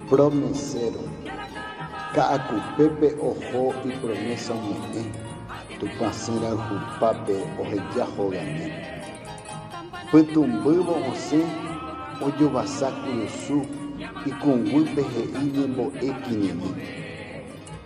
Promeséro. Ka'akupépe oho ipromésa ome'ẽ Tupã syrayhupápe oheja hogami. Pytũmbývo osẽ ojovasa kurusu ikũnguýpe he'i ñembo'e kirirĩ.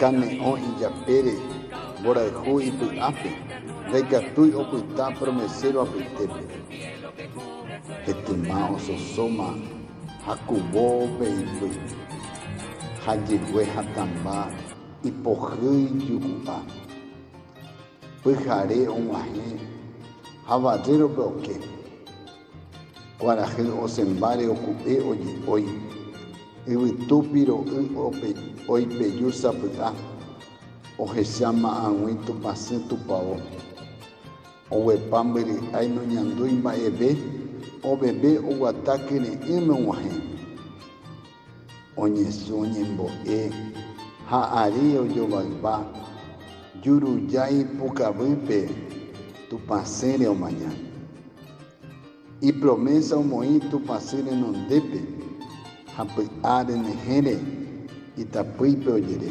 Kane'õ ijapére mborayhu ipy'ápe ndaikatúi opyta promeséro apytépe. Etyma ososóma hakuvo pe ipy ha jegue hatãmba ipohýi juku'a. Pyhare og̃uahẽ ha vallérope oke. Kuarahy osẽmbáre oku'e oje'ói. Yvytu piro'y oipeju sapy'a. Ohecha ma'ag̃ui tupãsy tupao. Oguepa mbyry'ái noñandúi mba'eve, oveve oguata kyre'ỹme og̃uahẽ. oñesũ ñembo'e ha ary ojovayva Jurujái pukavýpe Tupã sére omaña. Ipromésa omoĩ Tupã sy renondépe ha py'a renyhẽre itapýipe ojere.